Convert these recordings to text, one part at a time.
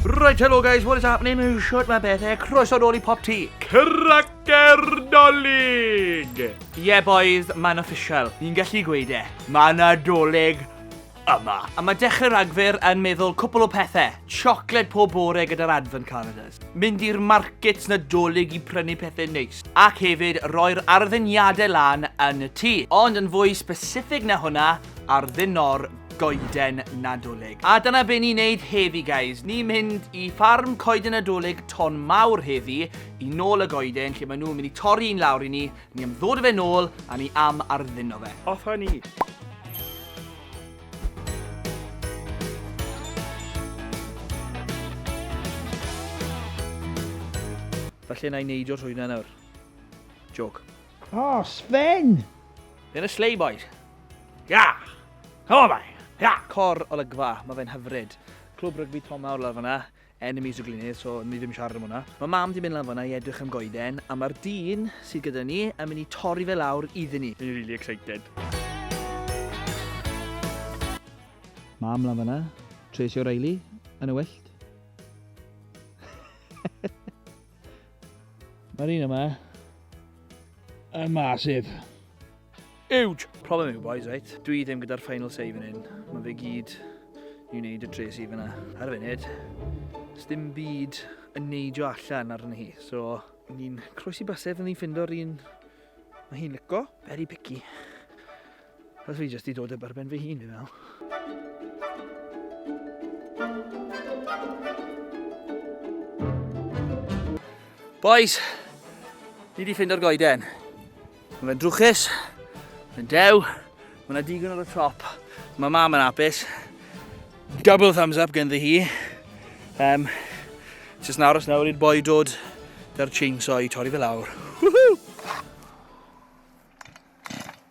Right, hello guys, what is happening? Shut my bed there, croeso nôl i Pop Tea. Cracker Dolig! Yeah boys, mae'n official. Ni'n gallu gweud e. Mae yna doleg yma. A mae dechrau Rhagfyr yn meddwl cwpl o pethau. Chocolate pob bore gyda'r advent calendars. Mynd i'r markets nadolig i prynu pethau neis. Ac hefyd roi'r arddeniadau lan yn y tŷ. Ond yn fwy specific na hwnna, arddeno'r goeden nadolig. A dyna be ni'n neud heddi guys. Ni'n mynd i ffarm coeden nadolig Ton Mawr heddi i nôl y goeden lle maen nhw'n mynd i torri un lawr i ni Ni am ddod a fe nôl a ni am ardduno fe. Off a ni! Felly na i neidio trwy hynna nawr. Joke. Oh, Sven! Yn y sleigh boys. Ia! Helo fe! Ia! Cor olygfa, mae fe'n hyfryd. Clwb rygbi Tom Mawr lawr fanna. Enemies o Glynedd, so ni ddim siarad am hwnna. Mae mam di mynd lan fanna i edrych am goeden, a mae'r dyn sydd gyda ni yn mynd i torri fe lawr iddyn ni. Fi'n really excited. Mam lan fanna, Tracy O'Reilly, yn y wyllt. Mae'r un yma yn masif. Huge! Problem yw, boys, right? Dwi ddim gyda'r final say fan hyn. Mae fe gyd i wneud y tres i fyna. Ar y funud, dim byd yn neidio allan arni hi. So, ni'n croesi basef yn ni'n ffindio'r un mae hi'n lico. Very picky. Os fi jyst i dod eb arben fy hun, fi'n meddwl. Boys, ni wedi ffindo'r goeden. Mae'n drwchus, mae'n dew, mae yna digon ar y top. Mae mam yn apus. Double thumbs up gen ddi hi. Um, Jyst yn aros nawr i'r boi dod da'r chainsaw i torri fe lawr. Woohoo!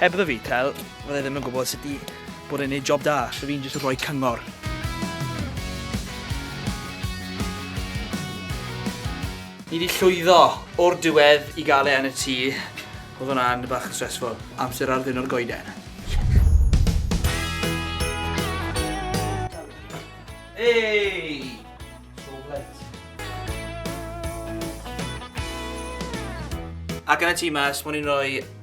Heb The Retail, fydda i ddim yn gwybod sut i bod yn neud job da, so fi'n jyst yn rhoi cyngor. Ni di llwyddo o'r diwedd i gael e yn y tŷ, oedd hwnna'n bach yn stressful, amser ar ddiwrnod goeden. Hey! So blunt. Ac yn y tŷ mas, o'n i'n rhoi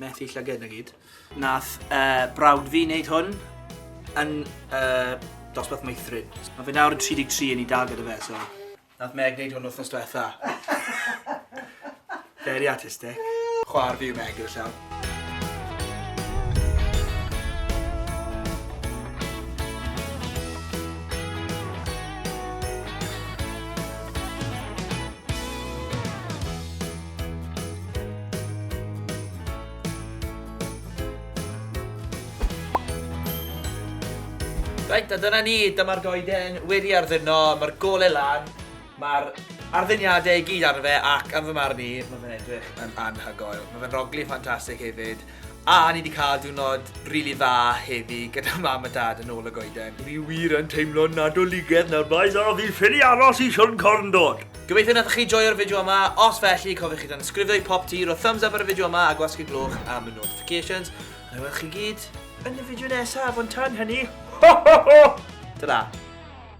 Methu llyged na gyd. Nath uh, brawd fi wneud hwn yn uh, dosbarth meithrin. Mae fe nawr yn 33 yn ei dal gyda fe, so... Nath Meg wneud hwn wrthnos diwetha. Very artistic. Chwar fi yw Meg gyda llaw. Reit, a dyna ni, dyma'r goeden wedi ardduno, mae'r gole lan, mae'r arddyniadau i gyd arno fe ac am fy marn i, mae fe'n edrych yn anhygoel. Mae fe'n rogli ffantastig hefyd. A ni wedi cael diwrnod rili dda heddi gyda mam a dad yn ôl y goeden. Ni wir yn teimlo'n Nadoligedd nawr bois a fi ffili aros i Siôn Corn dod! Gobeithio nathoch chi joio'r fideo yma, os felly cofiwch i danysgrifio i Pop Tee, rho thumbs up ar y fideo yma a gwasgu gloch am y notifications. A wna i weld chi gyd yn y fideo nesaf, ond tan hynny, ho ho ho! Ta-ra!